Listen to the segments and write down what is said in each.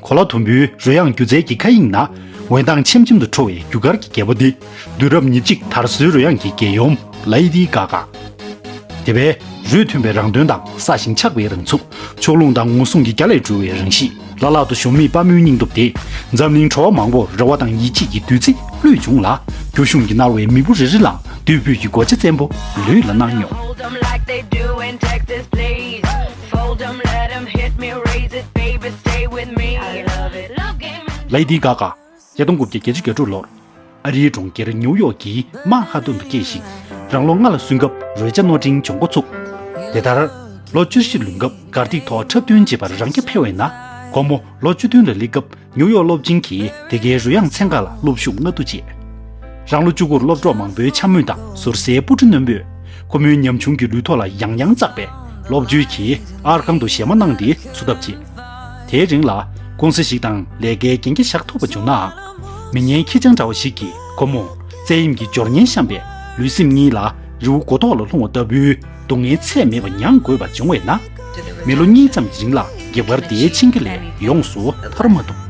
གོ་ལ་དུམ་བུའི་རོལ་དབྱངས་སྒྱུ་རྩལ་གྱི་མཁའ་དབྱིངས་ན། འོད་མདངས་ཆེམ་ཆེམ་དུ་འཕྲོ་བའི་རྒྱུ་སྐར་གྱི་རྒྱལ་པོ་འདི། དུས་རབས་ཉེར་གཅིག་དར་སྲོལ་རོལ་དབྱངས་ཀྱི་རྒྱལ་ཡུམ། Lady Gaga། དེ་བས་རུས་མཐུན་པའི་རང་རྟོན་དང་སྲ་ཞིང་ཆགས་པའི་རང་ཚུགས། ཕྱོགས་ལྷུང་དང་ངོ་སྲུང་གི་རྒྱ་ལས་གྲོལ་བའི་རང་གཤིས། ལ་ལ་དུ་ཞོམ་མེད་དཔའ་མོའི་སྙིང་སྟོབས་དེས། འཛམ་གླིང་གྲོ་བ་མང་པོར་རེ་བ་དང་ཡིད་ཆེས་ཀྱི་བདུད་རྩི་བླུད་བྱུང་ལ། རྒྱུ་གཞུང་གིས་མནར་བའི་མི་བུ་རེ་རེ་ལའང་དུས་འཕོས་ཀྱི་སྒོ་ལྕེ་བཙན་པོ་ལུས་ལ་གནང་མྱོང། Lady Gaga། ཉིས་སྟོང་དགུ་བརྒྱ་བརྒྱད་ཅུ་གྱ་དྲུག་ལོར་ཨ་རིའི་གྲོང་ཁྱེར་ནེའུ་ཡོག་གི་མན་ཧ་ཏུན་དུ་སྐྱེས་ཤིང། རང་ལོ་ལྔ་ལ་སོན་སྐབས་རོལ་ཆ་རྣོ་འབྲིང་སྦྱོང་འགོ་ཚུགས། དེ་ལྟར། ལོ་བཅུ་བཞི་ལོན་སྐབས་གར་སྟེགས་ཐོག་འཁྲབ་སྟོན་བྱེད་པར་རང་སྐྱ་འཕེར་བས་ན། ཁོ་མོ་ལོ་བཅུ་བདུན་ལ་སླེབས་སྐབས་ནིའུ་ཡོག་སློབ་ཆེན་གྱི་དེ་གའི་རོལ་དབྱངས་ཚན་ཁག་ལ་སློབ་ཞུགས་སྔ་བསྡུ་བྱས། རང་ལོ་བཅུ་དགུར་སློབ་གྲོགས་མང་པོའི་འཕྱ་སྨོད་དང་ཟུར་ཟའི་སྤུ་གྲི་རྣོན་པོས་ཁོ་མོའི་ཉམ་ཆུང་གི་ལུས་ཐོག་ལ་ཡང་ཡང་གཙགས་པས་ལོག་བརྗོད་ཀྱིས་ཨར་ཁང་དུ་གཞས་མ་གནང་སྟེ་འཚུབ་ཐབས་བྱས། དེའི་རིང་ལ་ཀུང་ཟི་ཞིག་དང་ལས་ཀའི་གན་རྒྱ་བཞག་ཐུབ་པ་བྱུང་ནའང། མི་ངན་ཁྱི་སྤྱང་འདྲ་བ་ཞིག་གིས་ཁོ་མོར་བཙན་གཡེམ་གྱི་སྦྱོར་ངན་བཤམས་པས་ལུས་སེམས་གཉིས་ལ་རི་བོ་མགོ་ཐོག་ལ་ལྷུང་བ་ལྟ་བུའི་སྡུག་བསྔལ་ཚད་མེད་པ་མྱང་དགོས་པ་འབྱུང་བས་ན། མི་ལོ་གཉིས་ཙམ་རིང་ལ་བགེགས་བར་དེའི་འཆིང་རྒྱུ་ལས་ཡོངས་སུ་ཐར་མ་ཐུབ།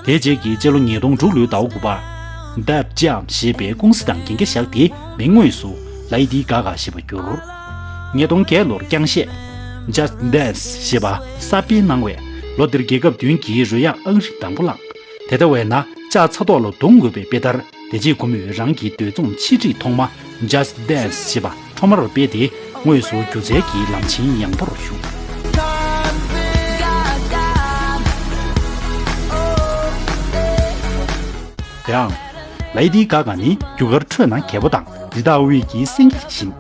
དེ་རྗེས་ཀྱི་སྤྱི་ལོ་ཉིས་སྟོང་དྲུག་ལོའི་ཟླ་བ་དགུ་པར། Deb Jam ཞེས་པའི་ཀུང་སི་དང་རྒྱན་འགས་བཞག་སྟེ་མིང་དངོས་སུ། Lady Gaga ཞེས་པར་བསྒྱུར། ཉིས་སྟོང་བརྒྱད་ལོར་རྐྱང་གཤེད། Just Dance ཞེས་པ་གསར་སྤེལ་གནང་བས་ལོ་འདིར་རྒྱལ་ཁབ་བདུན་གྱིས་རོལ་དབྱངས་ཨང་རིམ་དང་པོ་བླངས། དེ་ལྟ་བས་ན་ལྕགས་ཚ་ཐོག་ལ་རྡུང་དགོས་པའི་དཔེ་ལྟར། དེ་རྗེས་ཁོ་མོས་རང་གི་འདོད་རྩོམ་ཆིག་སྒྲིག་ཐོག་མ Just Dance ཞེས་པ་ཐོག་མར་སྤེལ་ཏེ་དངོས་སུ་སྒྱུ་རྩལ་གྱི་ལམ་ཆེན་ཡངས་པོར་ཞུགས། དེའང། Lady Gaga ནི་རྒྱུ་སྐར་ཁྲོད་ན་གལ་པོ་དང་རི་དྭགས་དབུས་ཀྱི་སེང་གེ་ཡིན་ཞིང།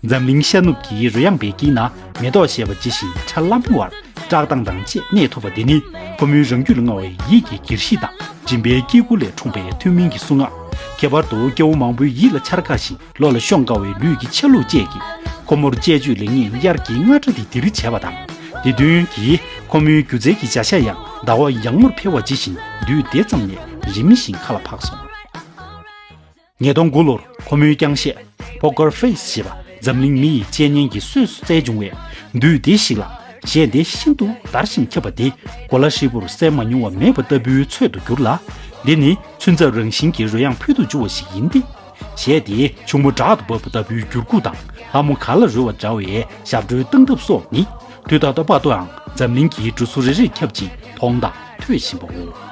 འཛམ་གླིང་ཤར་ནུབ་ཀྱི་རོལ་དབྱངས་པའི་དཀྱིལ་ན་མེ་ཏོག་བཞད་པ་ཇི་བཞིན་ཆར་གླང་པོ་བར་བཀྲག་མདངས་དང་བཅས་གནས་ཐུབ་པ་འདི་ནི་ཁོ་མོའི་རང་རྒྱུད་ལ་མངའ་བའི་ཡིད་ཀྱི་སྒེར་གཤིས་དང་མགྲིན་པའི་སྐྱེ་དགུ་ལས་འཁྲུངས་པའི་ཐུན་མིན་གྱི་གསུང་ངག། ཁྱད་པར་དུ་སྐྱེ་བོ་མང་པོའི་ཡིད་ལ་འཆར་དཀའ་ཞིང་བློ་ལ་ཤོང་དཀའ་བའི་ལུས་ཀྱི་ཆ་ལུགས་བཅས་ཀྱིས་ཁོ་མོར་དཔྱད་བརྗོད་ལེགས་ཉེས་དབྱར་གྱི་རྔ་སྒྲ་དི་དིར་བྱས་པ་དང། དེ་བསྟུན་གྱིས་ཁོ་མོའི་སྒྱུ་རྩལ་གྱི་བྱ་ཤ་ཡང་ཟླ་བ་ཡང་མོར་འཕེལ་བ་ཇི་བཞིན་དུས་དེ་ཙམ་ནས་རིམ་བཞིན་མཁའ་ལ་འཕགས་སོང། ཉིས་སྟོང་དགུ་ལོར་ཁོ་མོའི་རྐྱང་བཤད། Poker Face། ཞེས་པ་འཛམ་གླིང་མི་ཡི་དཔྱད་བརྙན་གྱི་གསོས་སུ་བསྩལ་བྱུང་བས། དུས་བདེ་ཞིག་ལ། གཞས་འདི་ཤིན་ཏུ་དར་ཞིང་ཁྱབ་པ་འདི་གོ་ལ་ཧྲིལ་པོར་གསལ་མ་མྱོང་བ་མེད་པ་ལྟ་བུའི་ཚོད་དུ་གྱུར་ལ། འདི་ནི་ཚུན་ཚབ་རང་བཞིན་གྱི་རོལ་དབྱངས་ཕུལ་དུ་བྱུང་བ་ཞིག་ཡིན་ཏེ། གཞས་དེའི་ཕྱུག་མོ་བྲག་ཏུ་བབས་པ་ལྟ་བུའི་འགྱུར་ཁུགས་དང་ལྷ་མོ་གར་ལ་རོལ་བ་འདྲ་བའི་ཞབས་བྲོའི་སྟངས་སྟབས་སོགས་ནི་དུས་ད་ལྟ་བར་དུའང་འཛམ་གླིང་གི་འབྲུ་གཟུགས་རེ་རེར་ཁྱབ་ཅིང་མཐོང་དང་ཐོས་བཞིན་པའོ།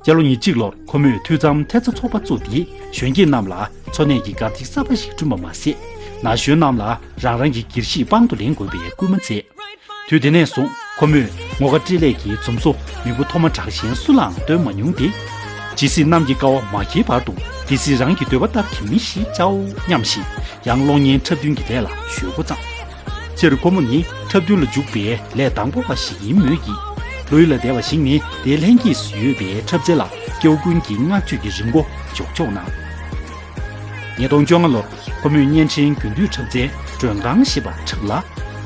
སྤྱི་ལོ་ཉིས་གཅིག་ལོར་ཁོ་མོས་འཐུས་ཚབ་མཐེབ་རྩ་ཚོགས་པ་བཙུགས་ཏེ་གཞོན་སྐྱེས་རྣམས་ལ་འཚོ་གནས་ཀྱི་གར་སྟེགས་གསར་པ་ཞིག་བསྐྲུན་པ་མ་ཟད། ན་གཞོན་རྣམས་ལ་རང་རང་གི་སྒེར་གཞིས་དཔང་དུ་ལེན་དགོས་པའི་སྐུལ་མ་མཛད། དུས་དེ་ནས་བཟུང་ཁོ་མོས་ངོ་དགའ་སྤྲེལ་ལད་ཀྱི་འཛུམ་སོགས་མི་བུ་མཐོ་དམའ་གྲགས་གཞན་སུ་ལའང་སྟོན་མ་མྱོང་སྟེ། ཇི་སྲིད་གནམ་གྱི་ཀ་བ་མ་འཁྱིལ་བར་དུ་དེ་སྲིད་རང་གི་འདོད་པ་ལྟར་གྱི་མི་ཞིག་བྱའོ་སྙམ་བཞིན་ཡང་གློག་བརྙན་འཁྲབ་སྟོན་གྱི་ལས་ལ་གཞོལ་འགོ་བརྩམས། སྤྱིར་སྒོར་མོ་ནི་འཁྲབ་སྟོན་ལ་འཇུག་པའི་ལས་དང་པོ་བ་ཞིག་ཡིན་མོད་ཀྱི། ལུས་ལ་བདེ་བ་ཞིག་ནི་དེའི་ལྷན་སྐྱེས་སུ་ཡོད་པའི་འཁྲབ་རྩལ་ལ་སྐྱེ་བོ་ཀུན་གྱིས་བསྔགས་བརྗོད་ཀྱི་རིམས་འགོ་འཇོག་ཆོག་གནང། ཉིས་སྟོང་བཅོ་ལྔ་ལོར་ཁོ་མོས་བརྙན་འཕྲིན་རྒྱུན་སྡུད་འཁྲབ་རྩལ་མགྲོན་ཁང་ཞེས་པ་འཁྲབ་ལ།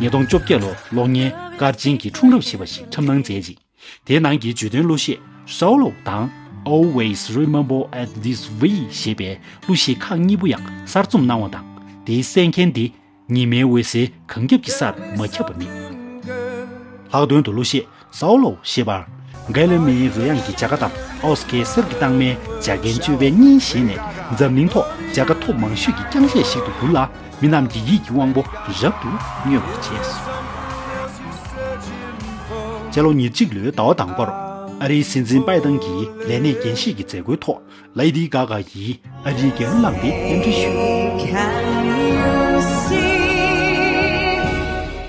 ཉིས་སྟོང་བཅོ་བརྒྱད་ལོར་གློག་བརྙན་སྐར་ཆེན་གྱི་འཁྲུངས་རབས་ཞེས་པ་ཞིག་འཁྲབ་གནང་མཛད་ཅིང། དེའི་ནང་གི་བརྗོད་དོན་གླུ་གཞས་སོའུ་ལུ་དང། Always Remember At This Way ཞེས་པའི་གླུ་གཞས་ཁག་གཉིས་པོ་ཡང་གསར་རྩོམ་གནང་བ་དང་དེའི་གསན་མཁན་དེ་ཉི་མའི་འོད་ཟེར་གངས་རྒྱབ་ཀྱི་སར་མ་ཁྱབ་པ་མེད། ལྷག་དོན་དུ་གླུ་གཞས་སོའུ་ལུ་ཞེས་པར། ཀའེ་ལི་མིའི་རོལ་དབྱངས་ཀྱི་བྱ་དགའ་དང་ཨོ་སི་ཀའི་གསེར་གྱི་རྟགས་མའི་བྱ་དགའི་སྤྱོད་པའི་གཉིས་བཞེས་ནས་འཛམ་གླིང་ཐོག་བྱ་དགའ་ཐོབ་མང་ཤོས་ཀྱི་རྐྱང་གཞས་ཤིག་ཏུ་གྱུར་ལ། མི་རྣམས་ཀྱི་ཡིད་ཀྱི་དབང་པོ་རབ་ཏུ་མྱོས་པར་བྱས་སོ། སྤྱི་ལོ་ཉེར་གཅིག་ལོའི་ཟླ་བ་དང་པོར་ཨ་རིའི་སྲིད་འཛིན་པཱེ་ཏང་གིས་ལས་གནས་འགན་བཞེས་ཀྱི་མཛད་སྒོའི་ཐོག Lady Gaga ཡིས་ཨ་རིའི་རྒྱལ་གླུ་བླངས་ཏེ་རྟེན་འབྲེལ་ཞུས།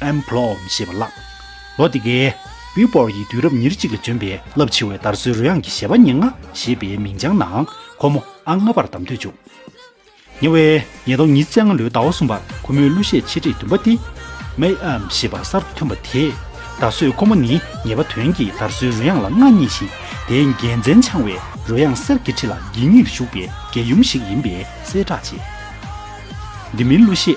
Employed ཞེས་པ་བཀླགས། ལོ་དེ་གའི། Billboard ཡི་དུས་རབས་ཉེར་གཅིག་ལ་བྱོན་པའི་རླབས་ཆེ་བའི་དར་སྲོལ་རོལ་དབྱངས་ཀྱི་བཞད་པ་ཉེར་ལྔ་ཞེས་པའི་མིང་བྱང་ནང་ཁོ་མོ་ཨང་ལྔ་པར་བདམས་ཐོན་བྱུང། ཉེ་བའི་ཉིས་སྟོང་ཉིས་བརྩེགས་སྔ་ལོའི་ཟླ་བ་གསུམ་པར་ཁོ་མོའི་གླུ་གཞས་ཆེ་གྲས་བདུན་པ་སྟེ། May I Am ཞེས་པ་གསར་དུ་ཐོན་པ་དེས། ད་གཟོད་ཁོ་མོ་ནི་ངེས་པ་དོན་གྱི་དར་སྲོལ་རོལ་དབྱངས་ལ་མངའ་བརྙེས་ཤིང་དེའི་རྒྱལ་མཚན་འཆང་བའི་རོལ་དབྱངས་གསེར་གྱི་ཁྲི་ལ་འགྱིང་ངེར་བཞུགས་པའི་རྒྱལ་ཡུམ་ཞིག་ཡིན་པའི་གསལ་བསྒྲགས་བྱས། འདི་མིན་གླུ་གཞས།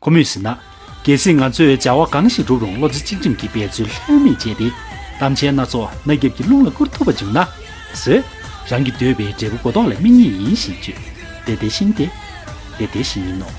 ཁོ་མོས་ཟེར་ན། གལ་སྲིད་ང་ཚོས་བྱ་བ་གང་ཞིག་བསྒྲུབ་རུང་བློ་རྩེ་གཅིག་སྒྲིམ་གྱིས་འབད་རྩོལ་ལྷོད་མེད་བྱས་ཏེ། གཏམ་འཆལ་སྣ་ཚོགས་རྣ་རྒྱབ་ཀྱི་རླུང་ལ་བསྐུར་ཐུབ་པ་བྱུང་ན། ཟོས། རང་གིས་འདོད་པའི་འབྲས་བུ་གོ་ལྡོག་ལ་སྨིན་ངེས་ཡིན་ཞེས་བརྗོད། དེ་དེ་བཞིན་ཏེ། དེ་དེ་བཞིན་ཡིན་ནོ།